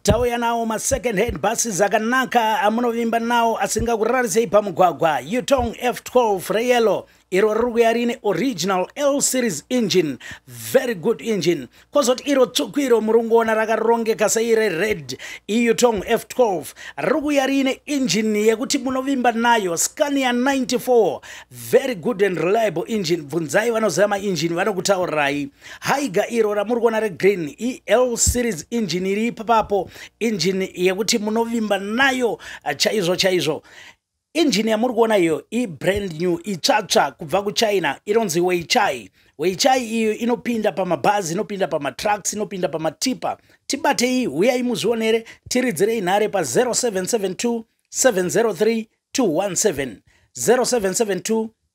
tauya nawo masecond hand buses akanaka amunovimba nawo asingakurarisei pamugwagwa utong f12 reyellow iro riri kuya riine original l series engine very good engine kwozoti iro tsvuku iro muri kungoona rakarongeka seire red eutong f12 riri kuya riine engine yekuti munovimba nayo scania 94 very good and reliable engine bvunzai vanoziva maengine vanokutaurirai haiga iro ramuri kuona regreen el series engine iri ipapapo engine yekuti munovimba nayo eh, chaizvo chaizvo engine yamuri kuona iyo ibrand new itsvatsva kubva kuchina inonzi weichai weichai iyo inopinda pamabhazi inopinda pamatrucks inopinda pamatipa tibatei huyai muzvionere tiridzirei nhare pa0772 703 217 0772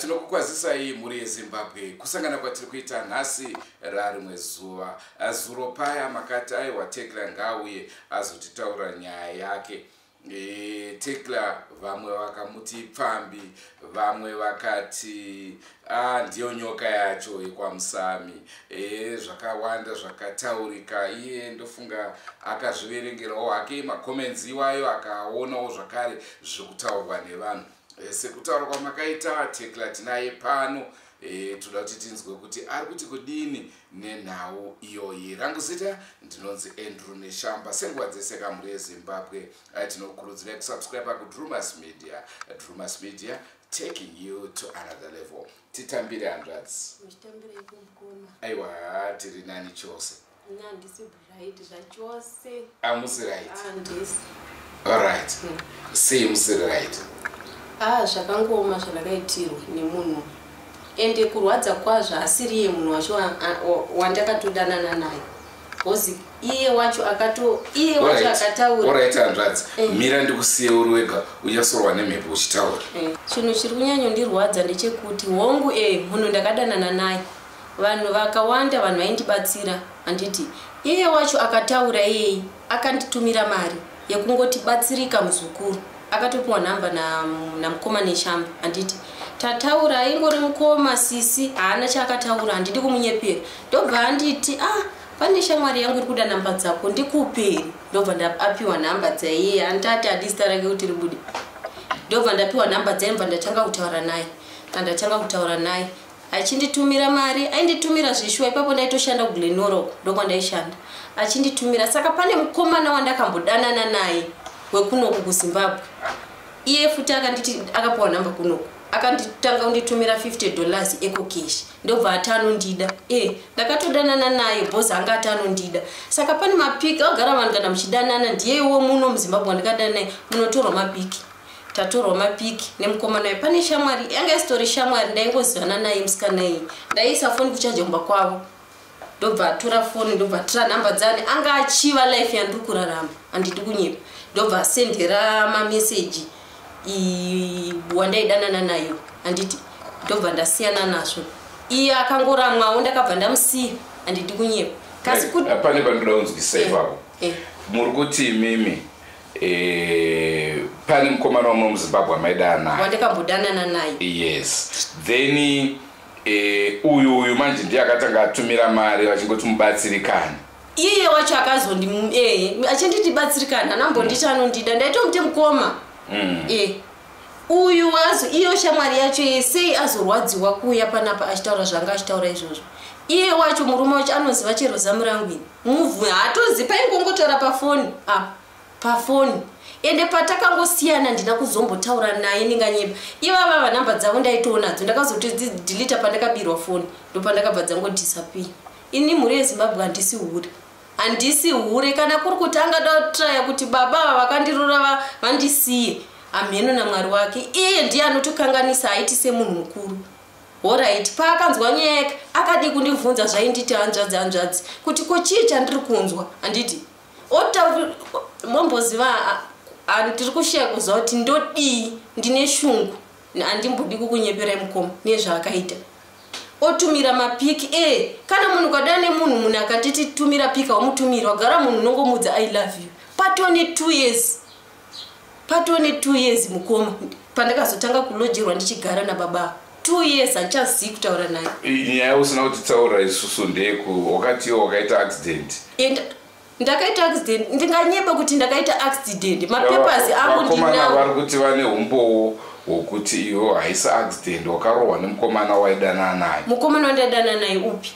tinokukwazisai mhuri yezimbabwe kusangana kwatiri kuita nhasi rarimwe zuva zuro paya makati aiwa tekla ngauye azotitaura nyaya yake e, tekla vamwe vakamuti pfambi vamwe vakati Ah, ndiyo nyoka yacho yekwamusami ee zvakawanda zvakataurika iye ndofunga akazviverengerawo hake macomments iwayo akaonawo zvakare zvekutaurwa nevanhu e, sekutaura kwamakaita tekla tinaye pano e, toda kuti tinzwe kuti ari kuti kudini nenhau iyoyi rangu zita ndinonzi andrew neshamba senguva dzese kamhuri yezimbabwe eh, tinokurudzirai kusubscribe kudrumas media drumas media taking you to another level titambire hanzvadzi aiwa tiri nani chose amusi rightaright ah, sei musiri right ah, zvakangooma zvandakaitirwa nemunhu ende kurwadza kwazvo asiriye munhu wacho wandakatodanana naye Kozi iye wacho akato iye wacho akataura. Alright hanzvadzi. Eh. Mira ndikusiye uri wega uchasorwa nemhepo uchitaura. Eh. Chinhu chiri kunyanyo ndirwadza ndechekuti hongu eh munhu ndakadanana naye. Vanhu vakawanda vanhu vaindibatsira handiti iye wacho akataura iyeyi akanditumira mari. yekungoti batsirika muzukuru akatopiwa nhamba namukoma neshamba handiti tataura aingori mukoma sisi haana chaakataura handidi kumunyepera ndobva handiti ah pane shamwari yangu iri kuda nhamba dzako ndikuperi ndobva ndaapiwa nhamba dzaiye handitati hadisita rake kuti ribude ndobva ndapiwa nhamba dzaye ndobva ndatanga kutaura naye andatanga kutaura naye achinditumira mari ainditumira zveshuwa ipapo ndaitoshanda kuglenoro ndokwandaishanda achinditumira saka pane mukomana wandakambodanana naye wekunoku kuzimbabwe iye futi akanditi akapiwa nhamba kunoku akanditanga kunditumira 50 dollars ecocash ndobva ati anondida e eh, ndakatodanana naye bos anga ati anondida saka pane mapiki agara vanhu kana muchidanana ndiye iwo muno muzimbabwe wandikadana naye munotorwa mapiki tatorwa mapic nemukomana uyu pane shamwari yanga isitori shamwari ndaingozivana naye musikana iyi ndaiisa foni kuchaja kumba kwavo ndobva atora foni ndobva atora nhamba dzani anga achiva life yandiri kurarama handidi kunyepa ndobva asendera mameseji wandaidanana nayo handiti ndobva ndasiyana nazvo iye akangoramwawo ndakabva ndamusiya handidi kunyepa kasi kuti pane pandoda kunzwisai eh, pavo eh. muri kuti imimi Eh, pane mukomana wamwe muzimbabwe amaidana naye wandakambodanana naye yes then eh, uyu uyu manje ndiye akatanga atumira mari vachingoti mubatsirikani iye wacho akazondi eh, achinditi batsirikani anambonditi mm. anondida ndaitomute mukoma mm. eh, uyu azo iyo shamwari yacho ye sei azorwadziwa kuuya panapa achitaura zvanga achitaura izvozvo iye wacho murume wacho anoziva chero zamu rangu ini move haatozi paingongotaura pafoni ah, pafoni ende patakangosiyana ndina kuzombotaura naye ndinganyeba ivava vanhamba dzavo ndaitoonadzo ndakazotodzidhilita pandakabirwa foni ndopandakabva dzangodisapii ini mhuri yezimbabwe handisi hure handisi hure kana kuri kuti angada kutraya kuti baba ava vakandirora vandisiye amheno namwari wake iye ndiye anotokanganisa aiti semunhu mukuru Horaiti, paakanzwa nyaya yake akadii kundibvunza zvainditi hanzvadzi hanzvadzi kuti ko chii chandiri kunzwa handiti otauri momboziva ani tiri kusheya kuziva kuti ndodii ndine shungu handimbodi kukunyeperai mukoma nezvaakaita otumira mapiki e eh, kana munhu ukadana nemunhu munhu akatiti tumira piki wamutumira wagara munhu unongomudza i love you patone two years patone two years mukoma pandakazotanga kulojerwa ndichigara nababa two years handichazivi kutaura naye nyaya usina kutitaura isusu ndeku wakatiwo wakaita accident and ndakaita accident ndinganyeba kuti ndakaita accident mapapers angu ndinawo vari kuti vane umbowo wokuti iwo haisi accident wakarohwa nemukomana waidana naye mukomana wandadana naye upi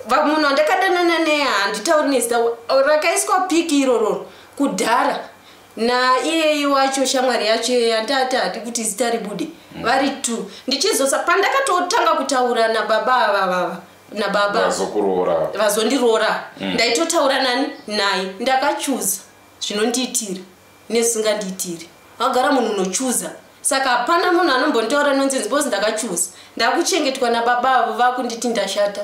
vamuno ndakadanana neye handitauri nezita rakaiswa piki irororo kudhara naiyeyi wacho shamwari yacho iyeyi andati hadi kuti zita ribude mm. vari t ndichizosa pandakatotanga kutaura nababa avavava nababa vazondiroora mm. ndaitotaura nani naye ndakachuza zvinondiitira nezvisingandiitiri vagara munhu unochuza saka hapana munhu anombondiora nonsense bcause ndakachuza ndakuchengetwa nababa avo vakunditi ndashata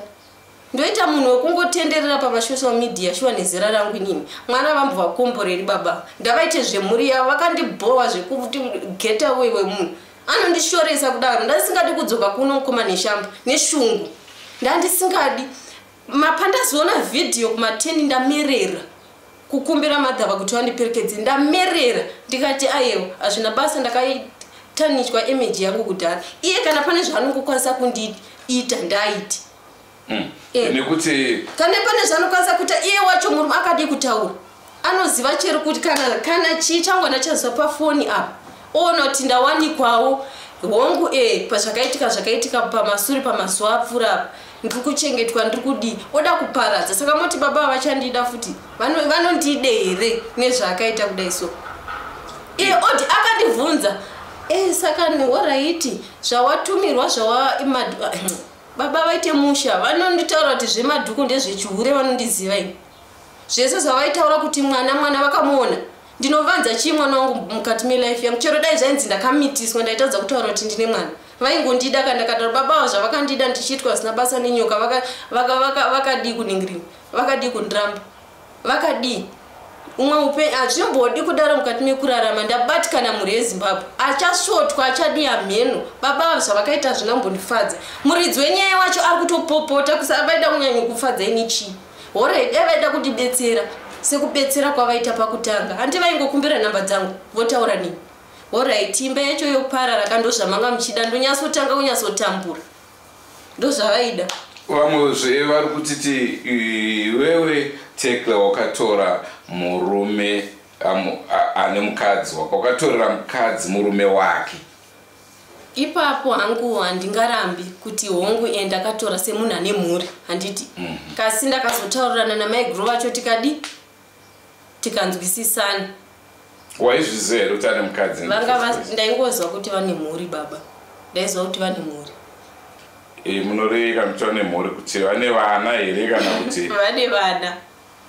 ndoita munhu wekungotenderera pamasocial media shuwa nezera rangu inini mwana vambovakomboreri baba ndavaite zvemhuri yavo vakandibhowa zvekuti get away wemunhu anondishoresa kudaro ndandisingadi kudzoka kuno mukoma neshamba neshungu ndandisingadi mapandaziona vhidhiyo kumateni ndamerera kukumbira madhava kuti vandiperekedze ndamerera ndikati ayewo hazvina basa ndakatanichwa imeji yangu kudhara iye kana pane zvaanongokwanisa kundiita ndaiti hmm. eh. nekuti kana pane zvaanokwanisa kuita iye wacho murume akadii kutaura anoziva chero kuti kana kana chii changu anachazwa pafoni apa oona kuti ndawanikwawo hongu e pazvakaitika zvakaitika pamasure pamazuva apfuura apa ndiri kuchengetwa ndiri kudii oda kuparadza saka moti baba vavachandida futi vanondide here nezvaakaita kudai so iye oti akandibvunza e saka horaiti zvawatumirwa zvawa baba vaite musha vanonditaura kuti zvemadhuku ndezvechihure vanondiziva ini zvese zvavaitaura kuti mwana mwana vakamuona ndinovanza chii mwana wangu mukati melife yangu chero dai zvainzi ndakamitiswa ndaitadza kutaura kuti ndine mwana vaingondida ka ndakadaro baba avo zvavakandida ndichiitwa zina basa nenyoka vakadii vaka, vaka, vaka kuningirina vakadii kundiramba vakadii umwe upenyu hazvimbodi kudaro mukati mekurarama ndabatikana mhuri yezimbabwe achasvotwa achadii hamheno baba avo zvavakaita zvina mbondifadza muridzi wenyaya wacho ari kutopopota kusavaida kunyanyo kufadza ini chii Horai, dai vaida kundibetsera sekubetsera kwavaita pakutanga, hanti vaingokumbira nhamba dzangu votaura nini? Horai, imba yacho yoparara ka ndozvamanga muchida, ndonyatsotanga kunyatsotambura, ndozvavaida. Vamwezve vari kutiti iwewe Tekla wakatora murume ane mukadzi wako, wakatorera mukadzi murume wake. ipapo hangu handingarambi kuti hongu e ndakatora semunhu ane mhuri handiti mm -hmm. kasi ndakazotaurirana namai guru vacho tikadi tikanzwisisana waizviziva here kuti ane mukadzi ndaingozwa kuti vane mhuri baba ndaiziva kuti vane mhuri e, munoreveka kuti vane mhuri kuti vane vana here kana kuti vane vana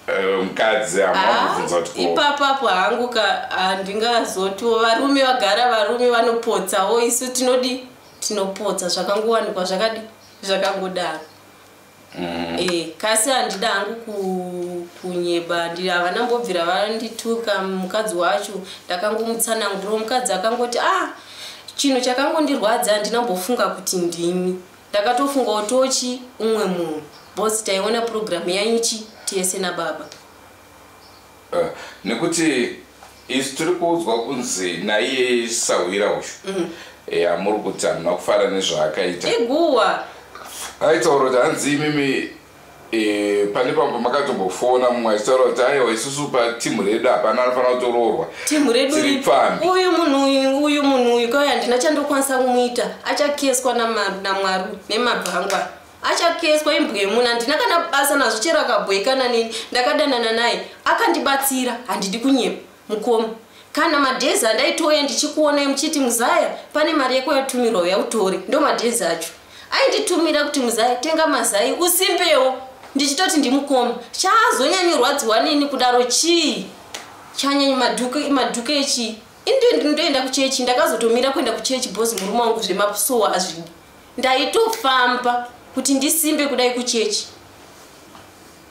Eh, mukadzi amabvunza ah, kuti ipapapo hangu ka handingazotiwo varume vagara varume vanopotsawo isu tinodi tinopotsa zvakangowanikwa zvakadi zvakangodaro mm. eh, kasi handida hangu kunyeba havana mbobvira vandituka mukadzi wacho ndakangomutsananguriro mukadzi akangoti ah chinhu chakangondirwadza handina mbofunga kuti ndimi Ndakatofunga kuti tochi umwe munhu boss taiona program yaichi tese nababa. Uh, nekuti isu tiri kuudzwa kunzi naiye sahwira uyu mm. ya muri kuti anhu makufara nezvaakaita iguwa aitaura kuti hanzi imimi Eh, pane pambo makatombofona mumwe achitaura kuti aiwa isusu patimu redu hapana anofanira kutoroorwa timu redu uyu munhu uyu uyu munhu uyu kauya handina chandokwanisa kumuita achakeswa namwari nemabva angwa achakeswa imbwa yemunhu handina kana basa nazvo chero akabhoikana neni ndakadanana naye akandibatsira handidi kunyepa Mukoma. Kana madays andaitouya ndichikuonai muchiti muzaya pane mari yako yatumirwa uya utore ndo madays acho ainditumira kuti muzaya tenga mazai usimbewo ndichitoti ndimukoma chaazonyanyorwadziwa nini kudaro chii chanyanyi madhuke madhuke chii indoenda kuchechi ndakazotomira kuenda kuchechi bos murume wangu zvemapusowa azvidi ndaitofamba kuti ndisimbe kudai kuchechi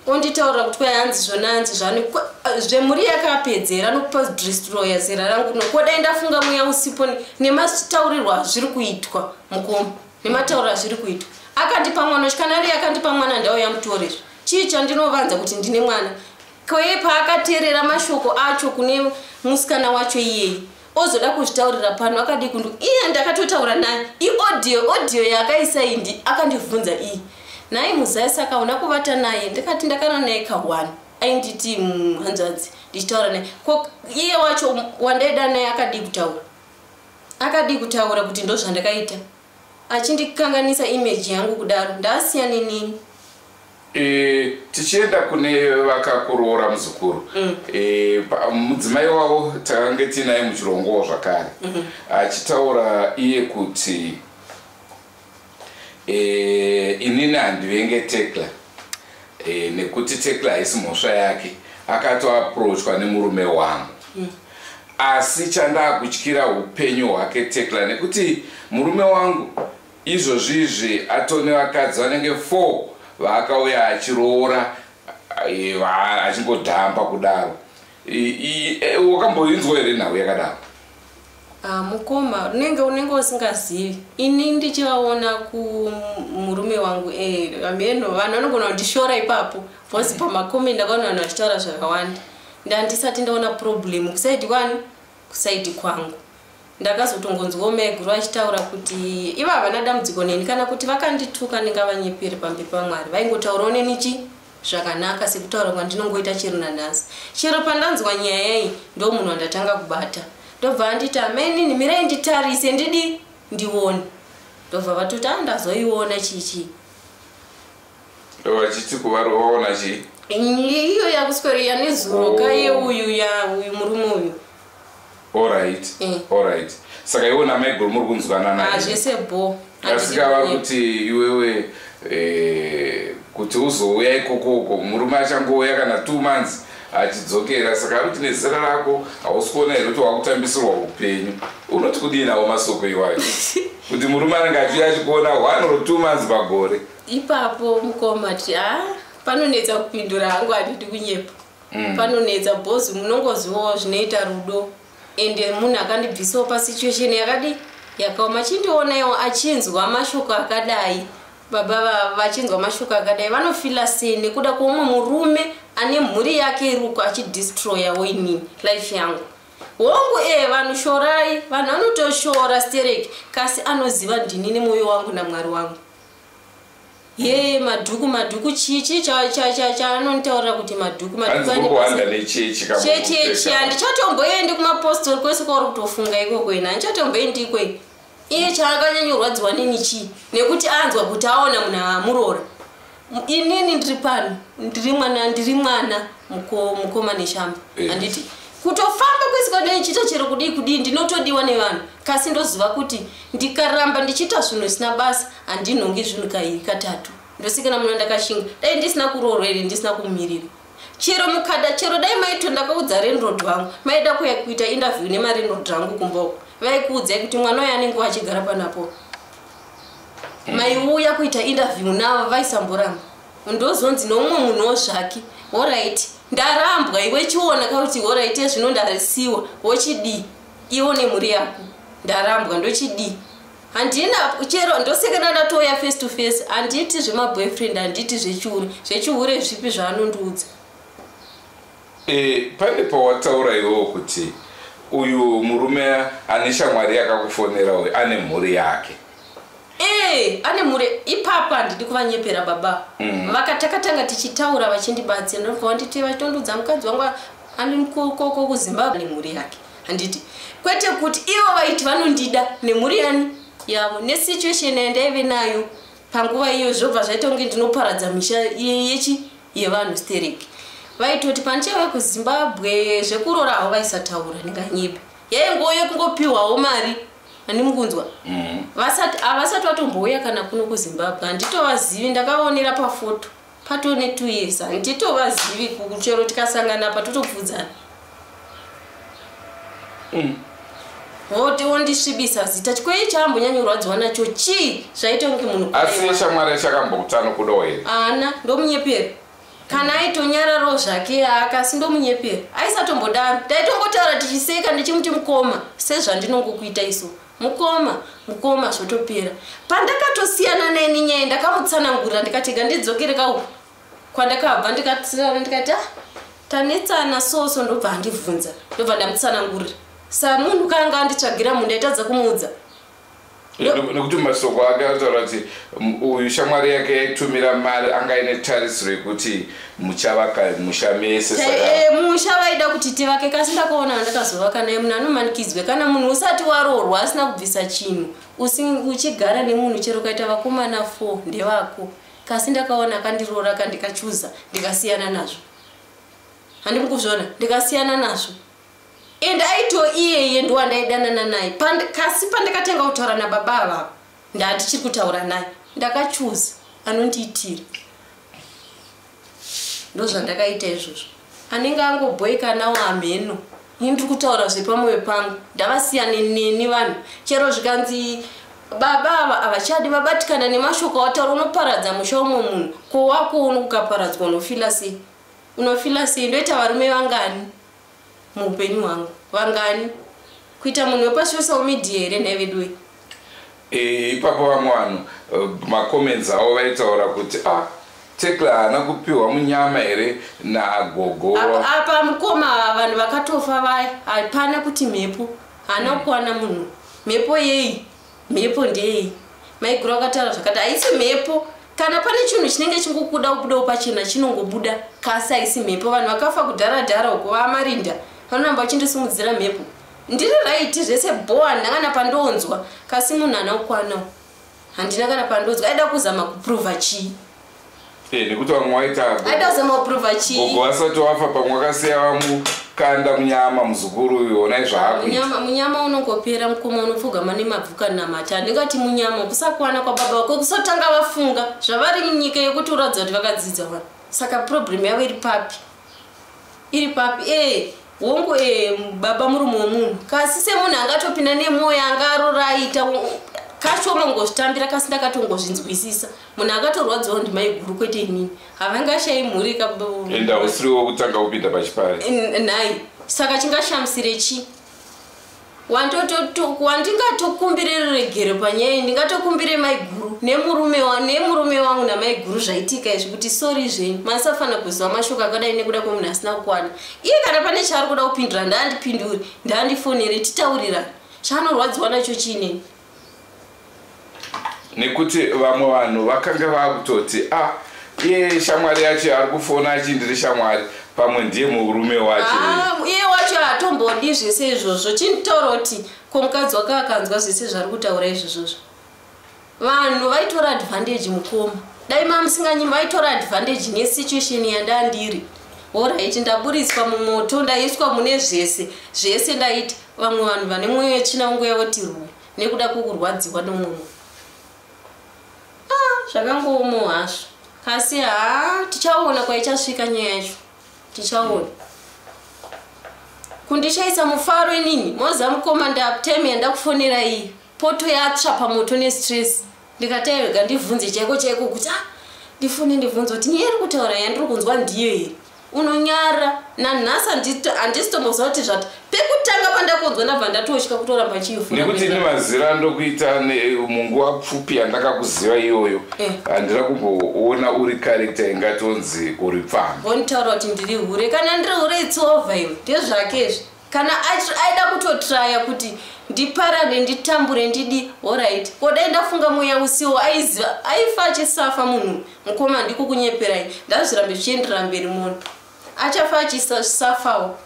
onditaura kuti kwai hanzi zvona hanzi zvani eh, zvemhuri yakapedzera anokupa dristroya zera rangu no kodai ndafunga mweya usipo nemataurirwa azviri kuitwa mukoma nematauriro azviri kuitwa akandipa mwana uchi kana ariye akandipa mwana ndauya mutorezvo chii chandinovanza kuti ndine mwana kwee paakateerera mashoko acho kune musikana wacho iyeyi ozoda kuzvitaurira pano akadii kundu iye ndakatotaura naye iodio odio yaakaisa iyi ndi akandivhunza iyi nhai muzai saka una kuvata naye ndikati ndakana naye kahwani ainditi mm, hanzvadzi ndichitaura naye ko iye wacho wandaida naye akadii kutaura akadii kutaura kuti ndozvandakaita achindikanganisa image yangu kudaro ndaasiya nenini e, tichienda kune vakakuroora muzukuru mm. e, mudzimai wavo takange tiinaye muchirongowo zvakare mm -hmm. achitaura iye kuti e, inini handivenge tekla e, nekuti tekla haisi mhosva yake akatoaprochwa nemurume wangu mm. asi chandaakutyira upenyu hwake tekla nekuti murume wangu izvozvizvi atone vakadzi vanenge four vaakauya achiroora e, achingodhamba kudaro Eh, wakamboinzwa here nhau yakadaro ah, mukoma unenge unenge usingazivi ini ndichivaona kumurume wangu eh, ameno vanhu vanogona kundishora ipapo bcause mm. pamakomi ndakaona vanhu vachitaura zvakawanda ndandisati ndaona problem kusaidi kwani kusaidi kwangu ndakazotongonzwawo maiguru vachitaura kuti iva havana dambudziko neni kana kuti vakandituka ndingavanyepere pamberi pamwari vaingotaurawo neni chii zvakanaka sekutaura kwandinongoita chero nanhasi chero pandanzwa nyaya iyi ndo munhu wandatanga kubata ndobva anditi amenini mirai nditarise ndidi ndione ndobva vatoti a ndazoiona chichii ndovachiti kuvari waona chii iyo yakuswero yanezuro kaye uyu ya uyu murume uyu Alright, eh. alright. Saka iwe na Michael muri kunzwanana. Ah, zvese bo. Asika vakuti iwewe eh kuti uzouya ikoko uko murume achangouya kana 2 months achidzokera saka akuti nezera rako hausi kuona here kuti wakutambisirwa upenyu unoti kudii nawo masoko iwayo kuti murume anenge achiuya achikuona one or two months pagore ipapo mukoma ti a ah, panonetsa kupindura hangu handidi kunyepa mm. panonetsa bos munongozivawo zvinoita rudo and munhu akandibvisawo pasituation yakadi yakaoma chindionaiwo achinzwa mashoko akadai baba vachinzwa mashoko akadai vanofila sei nekuda kweumwe murume ane mhuri yake iri uko achidistroyawo inini life yangu hongu ee eh, vanhu shorai vanhu vanotoshora stereki kasi anoziva ndini nemwoyo wangu namwari wangu Yee madhuku madhuku chichi chaanonitaurira kuti madhuku madhukuchechechi handichatomboendi kumapostori kwese kwauri kutofunga ikoko ina handichatomboendi ikwei iye chaakanyanyorwadziwa nini chii nekuti anzwa kuti aona munhu aamurora inini ndiri pano ndiri mwana ndiri mwana mukoma neshamba eh. handiti kutofamba kwese kwandichiita chero kudii kudii ndinotodiwa nevanhu kasi ndoziva kuti ndikaramba ndichiita zvinhu zvisina basa handinhongi zvinhu kairi katatu ndosikana muna ndakashinga dai ndisina kuroorwa here ndisina kumirira chero mukada chero dai maito ndakaudza renrod wangu maida kuya kuita interview nemarenrod rangu kumboko vaikuudzai kuti mwana uyo anenge wachigara panapo mm. maiuya kuita interview navo vaisamboramba ndozonzi noumwe munhu wo zvake horaiti ndarambwa iwe chiona kauti horaiti ezvino ndarisiwa wochidii iwo nemhuri yako ndarambwa ndochidii handina chero ndosekana ndatouya face to face handiti zvemaboyfriend handiti zvechihure zvechihure zvipi zvaanondiudza e, pane pawataura iwowo kuti uyu murume ane shamwari yakakufonera uyu ane mhuri yake Eh, ane mure ipapo handidi kuvanyepera baba mm. vakatakatanga tichitaura vachindibatsira ndobva wanditi vachitondudza mukadzi wangu anikoko kuzimbabwe nemhuri yake handiti kwete kuti ivo vaiti vanondida nemhuri yani yavo nesituation yandaive nayo panguva iyo zvobva zvaita kunge ndinoparadza misha yechi yevanhu sterek vaitoti pandichave kuzimbabwe zvekurora havo vaisataura ndinganyebe yaingoyo kungopiwawo mari ani mukunzwa mm. vasati avasati vatombouya kana kuno kuzimbabwe handitovazivi ndakaonera pafoto pato ne two years handitovazivi kuchero tikasangana pa totobvudzana mm. voti wondisvibisa zita chikwei chaambonyanyorwadziwa nacho chii zvaita kunge munhu asi shamwari yachakambokutano kudohera ana ndomunyeperi kana aitonyararawo zvake aka asi ndomunyepera aisatombodaro taitongotaura tichiseka ndichimuti mukoma sezvandinongokuita iso mukoma mukoma zvotopera pandakatosiyana naye nenyaya ndakamutsanangurira ndikatega ndidzokereka uku kwandakabva ndikatsirana ndikati ah, tanetsana soso ndobva andibvunza ndobva ndamutsanangurira samunhu kaanga anditsvagira munhu ndaitadza kumuudza nekuti masoko ake anotaura kuti uyu shamwari yake yaitumira mari anga aine tarisiro yekuti muchavaka musha mese eh, musha vaida kuti tivake kasi ndakaona andakazovaka naye munhu anomanikidzwe kana munhu usati waroorwa asina kubvisa chinhu uchigara nemunhu chero ukaita vakomana four ndevako kasi ndakaona akandiroora ka ndikachuza ndikasiyana nazvo handiri kuzviona ndikasiyana nazvo and aito iyeye ndowandaidanana naye kasi pandakatanga kutaura nababa avavo ndandichiri kutaura naye ndakachuza anondiitira ndozvandakaita izvozvo anenge angobhoikanawo amheno ini ndiri kutaura zvepamwoyo pangu ndavasiyane neni vanhu chero zvikanzi baba ava havachadi vabatikana nemashoko awataura unoparadza musha umwe munhu ko wako uno ukaparadzwa unofila sei unofila sei ndoita varume vangani muupenyu hwangu vangani kuita munhu wepasocial media here nhai veduwe eh, ipapo vamwe vanhu eh, macomments avo vaitaura kuti a ah, tekla haana kupiwa munyama here nagogo apa mukoma vanhu vakatofa vaya hapana kuti mhepo haana mm. kuwana munhu mhepo yei mhepo ndeyei maiguru akataura zvakati haisi mhepo kana pane chinhu chinenge chingokuda kubudawo pachena chinongobuda kasi haisi mhepo vanhu vakafa kudhara dhara uko vaamarinda vanoramba vachindisimudzira mhepo ndiri raiti zvese bho handina kana pandonzwa kasi munhu haana kukwanawo handina kana pandonzwa aida kuzama kuprova chii Eh, nekuti vamwe waitagogo vasati wafa pamwe wakasiya vamukanda munyama muzukuru uyu onai zvaamunyama unongopera mukoma unopfugama nemabvuka namata handingati munyama kusakwana kwababa wako kusotanga vafunga zvavari munyika yekuti uratidza kuti vakadzidza vanhu saka problem yavo iri papi iri papi ee eh, hongu e baba murume wemunhu kasi semunhu angatopinda nemwoyo yanga arora aita kashoma ngozvitambira kasi ndakatongozvinzwisisa munhu akatorwadziwa ndimaiguru kwete inini havangashayi mhuri kaenda usiriwo kutanga kupinda pachipari nhai saka chingashamisire chii wandingatokumbire ruregero panyaya ndingatokumbire maiguru nemurume wangu namaiguru zvaitika izvi kuti sori zvenyu masafanira kuziva mashoko akadai nekuda kwemunhu asina kukwana iye kana pane chaari kuda kupindura ndaandipindure ndaandifonere titaurira chaanorwadziwa nacho chiinei nekuti vamwe vanhu vakanga vakutoti a ah, iye shamwari yacho ari kufona achindiri shamwari pamwe ndiye murume wacho ah, iye wacho hatombodi zvese izvozvo chintaura kuti ko mukadzi wake akanzwa zvese zvari kutaura izvozvozvo vanhu vaitora advantage mukoma dai mamusinganyimi vaitora advantage nesituation yandandiri horaiti ndaburitswa mumoto ndaiswa mune zvese zvese ndaiti Vamwe vanhu vane mwoyo yetsvina vangouya voti rwe nekuda kwekurwadziwa nomwe munhu. Ah, zvakangoomo hazvo. Asi haa tichaona kwaichasvika nyaya yacho. Tichaona. Kundishaisa mufaro inini, moza mukoma ndaaptime yandakufonera iyi. Poto yatsva pamoto nestress. ndikataiga ndibvunze chaiko chaiko kuti ah, ndifune ndibvunze kuti nyaya iri kutaura yandiri kunzwa ndiyo here unonyara nanhasi handisitomboziva kuti zvati pekutanga pandakunzwa ndabva ndatotya kutoramba chiifunekuti ini mazira ndokuita munguva pfupi yandakakuziva iyoyo eh. handina eh. kumboona uri karekta ingatonzi uri pfambi vonitaura kuti ndiri hure kana ndiri hure itsova iwe ndezvake izvi kana aida kutotraya kuti ndiparade nditambure ndidi horit ko dai ndafunga mweya usiwo aiziva aifa achisafa munhu mukoma ndiko kunyeperai ndazvirambe zvichienderera mberi mona achafa achisafawo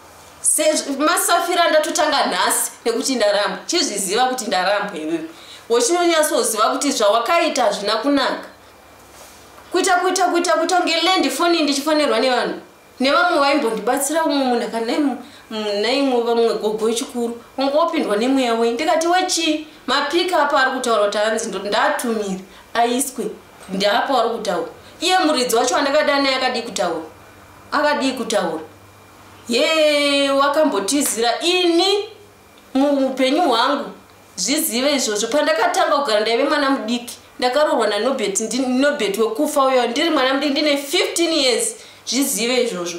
masafira ndatotanga nhasi nekuti ndaramba chizviziva kuti ndaramba iwewe wochinonyatsoziva kuti zvawakaita hazvina kunaka kuita kuita kuita kuita kunge lendi foni ndichifonerwa nevanhu nevamwe vaimbondibatsira umwe munhu akanaimwe vamwe gogo wechikuru wanga wapindwa nemweya wei ndikati wechii mapika apo ari kutaura kuti hanzi ndatumire aiswe ndaapo ari kutaura iye muridzi wacho wandakada naye akadii kutaura akadii kutaura ye wakambotizira ini muupenyu hwangu zvizive izvozvo pandakatanga kugara ndaive mwana mudiki ndakarorwa nanobet nobet wekufa uyo ndiri mwana mudiki ndine 15 years zvizive izvozvo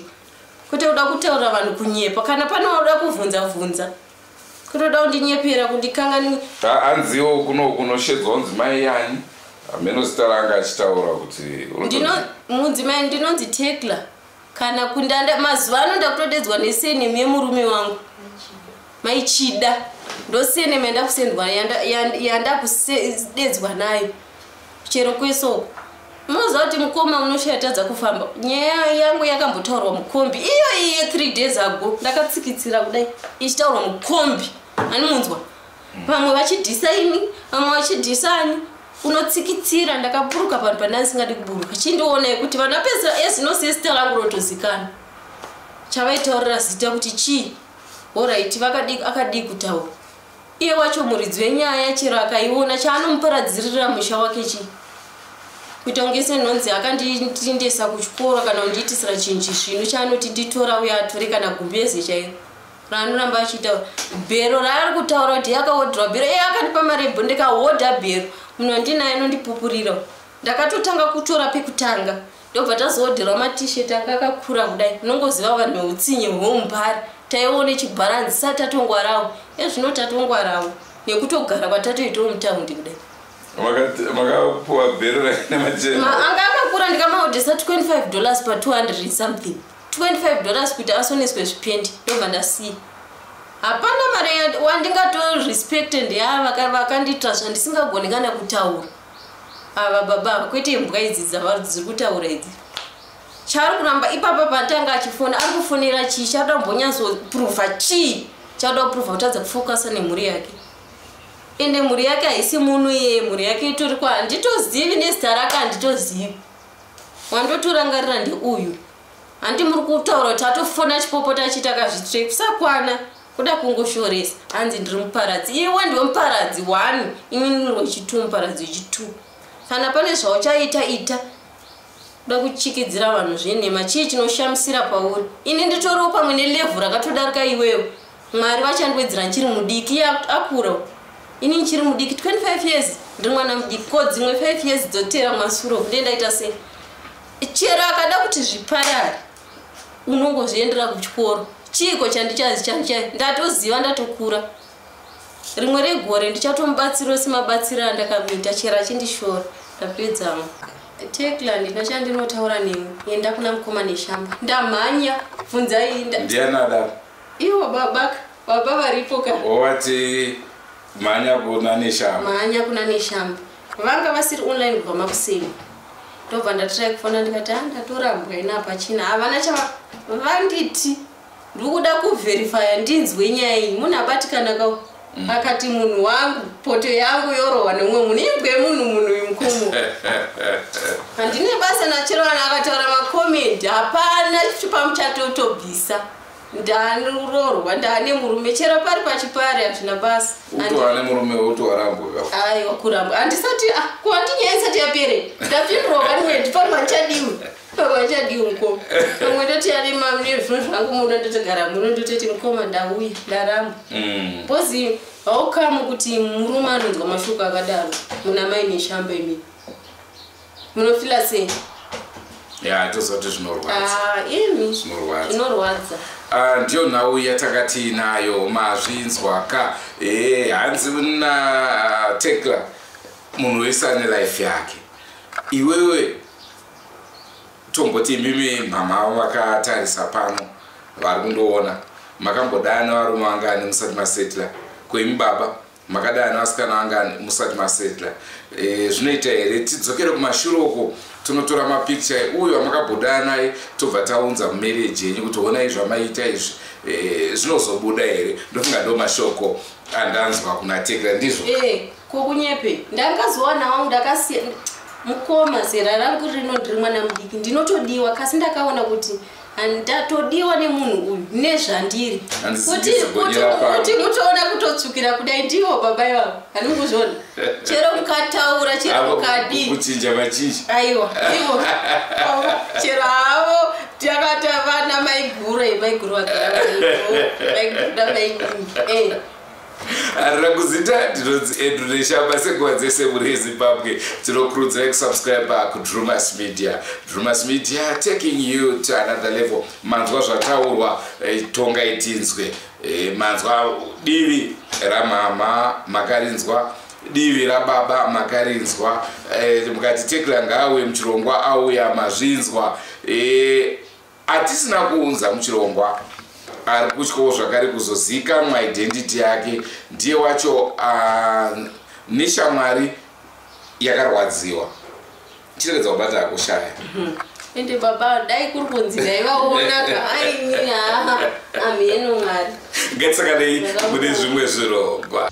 kwete kuda kutaura vanhu kunyepa kana pane wauda kuvhunza vhunza kutoda kundinyepera kundikangani anziwo kuno kunoshedzwa kunzi mai yani hameno zita ranga achitaura kuti ndino mudzimai ndinonzi tekla kana kundanda mazuva ano ndakutodedzwa nesenemu yemurume wangu maichida ndosenemu yandakusendwa yandakusededzwa nayo chero kwesoko munoziva kuti mukoma unoshatadza kufamba nyaya yangu yakambotaurwa mukombi iyo iye three days ago ndakatsikitsira kudai ichitaurwa mukombi ani munzwa vamwe vachidhisa ini vamwe vachidhisa ani unotsikitsira ndakaburuka panhu pandai singadi kuburuka chindionai kuti vana pesa ezinosiye zita rangu rotozikana chavaitaurira zita kuti chii horaiti akadii kutaura iye wacho muridzi wenyaya chero akaiona chaanomuparadzirira musha wake chii kuita kunge senhonzi akanditindesa kuchikoro kana kundiitisira chinji zvino chaanoti nditora uye atore kana gumbeze chairo raanoramba achitaura bhero raari kutaura kuti yakahodhirwa bhero iye akandipa mari yebho ndikahodha bhero muno ndinaye nondipupurira ndakatotanga kutora pekutanga ndobva tazohodherwa matishet anga akakura kudai unongoziva vanhu veutsinye hweumbari taione chibharanzi sa tatongwarawo ezvino tatongwarawo nekutogara kwatatoitawo mutaundi kudai makapuwa bhero rainemaanga akakura ndikamahodhesa 25 dollars pa 200 something 25 dollars kuti asoneswe zvipendi ndobva ndasiya hapana mari wandingatorespecte ndeava vakandiitira zvandisingagoni kana kutaura ava baba ava kwete imbwa idzi dzavari dziri kutaura idzi chaari kuramba ipapa patanga achifona ari kufonera chii chaada kumbonyatsoprova chii chaada kuprova kutadza kufokasa nemhuri yake ende mhuri yake haisi muno iye mhuri yake itori kwa handitozivi nezita rake handitozivi wandotorangarira ndeuyu handi muri kutaura kuti atofona chipopota achiti akazvitrek kusakwana kuda kungoshoresa hanzi ndiri muparadzi iwe ndiwe muparadzi one ini ndiri wechitu muparadzi wechitu kana pane zvauchaita ita kuda kuchikidzira vanhu zvenhema chii chinoshamisira pauri ini nditoriwo pamwe nelevhu rakatodarika iwewo mwari vachandiwedzera ndichiri mudiki iye akura ini ndichiri mudiki 25 years ndiri mwana mudiki ko dzimwe 5 years dzotera masuro kude ndaita sei chero akada kuti zviparare unongozviendera kuchikoro chiiko chandichazi chandicha ndatoziva ndatokura rimwe regore ndichatomubatsira osemabatsiro andakamuita chero achindishora ndapedzamo tekla ndina chandinotaura nemi enda kuna mukoma neshamba ndamhanya bvunzai ndianadaro Iwo baba ka, baba varipo ka. Wati mhanya kuna Neshamba. Mhanya kuna Neshamba. Vanga vasiri online kubva makuseni. Ndobva ndatry kufona ndikati ah ndatorambwa ina hapachina. Havana chava vanditi ndiri kuda kuverifya ndinzwe nyaya iyi munhu abatikana ka mm. akati munhu wangu poto yangu yorohwa neumwe munhu ibwe munhu munhu uyu mukomo handine basa nachero vanhu akataura makomedi hapana chipamuchatotobvisa ndani urorwa ndani murume chero pari pachipari hazvina basa utoane murume utoarambwa aiwa kurambwa handisati ah, kuhandi nyaya isati yapere ndapindurwa vanwe ndipari mandichadiwi pavachadii mukoma pamwe ndoti ari mane zvino zvangu muno ndotogara muno ndototi mukoma ndauya ndaramba mm. bcozi haukamu kuti murume anonzwa mashoko akadaro muna mai neshamba imii munofila sei ya tozoti zvinorwadzaizvinorwadza ah, ah, ndiyo nhau yatakati nayo mazvinzwa ka ee hanzi na ah, tekla munhu wese ane life yake iwewe tomboti imimi mhamha avo vakatarisa pano vari kundoona makambodana varume vangani musati masetla koimi baba makadai ana asikana angani musati masetla e, eh, zvinoita here tidzokere kumashure uko tonotora mapikicha uyo amakabhodana naye tobva taunza mumereji yenyu kuti onai zvamaita izvi eh, zvinozobuda e, here ndofunga ndo mashoko andanzwa kuna tekla ndizvo eh, kokunyepe ndangazowana wangu ndakasiya mukoma zera rangu rino ndiri mwana mudiki ndinotodiwa kasi ndakaona kuti ndatodiwa nemunhu uyu nezvandiri kuti mutoona kutotsukira kudai ndivo baba ivavo haninguzvona chero mukataura chero mukadiikuchinja vachinji aiwa ivo chero havo takata vana maiguru maiguru vagara vaibuda vaiingi eh, arira kuzita ndinonzi andrew neshamba senguva dzese muri ezimbabwe tinokurudzirai kusubscribe kudrumas media drumas media taking you to another level manzwa zvataurwa eh, tonga itinzwe eh, manzwa divi ramama makarinzwa divi rababa makarinzwa eh, mukati tekla ngaawe muchirongwa auya mazvinzwa atisina kuunza muchirongwa ari kutyawo zvakare kuzozivikanwa identity yake ndiye wacho ah, neshamwari yakarwadziwa chiregedza kubata akushaya mhm. ende baba dai kuri kunzi dai vaona ka aini haa amheno mwari ngatisakanei mune zvimwe zvirongwa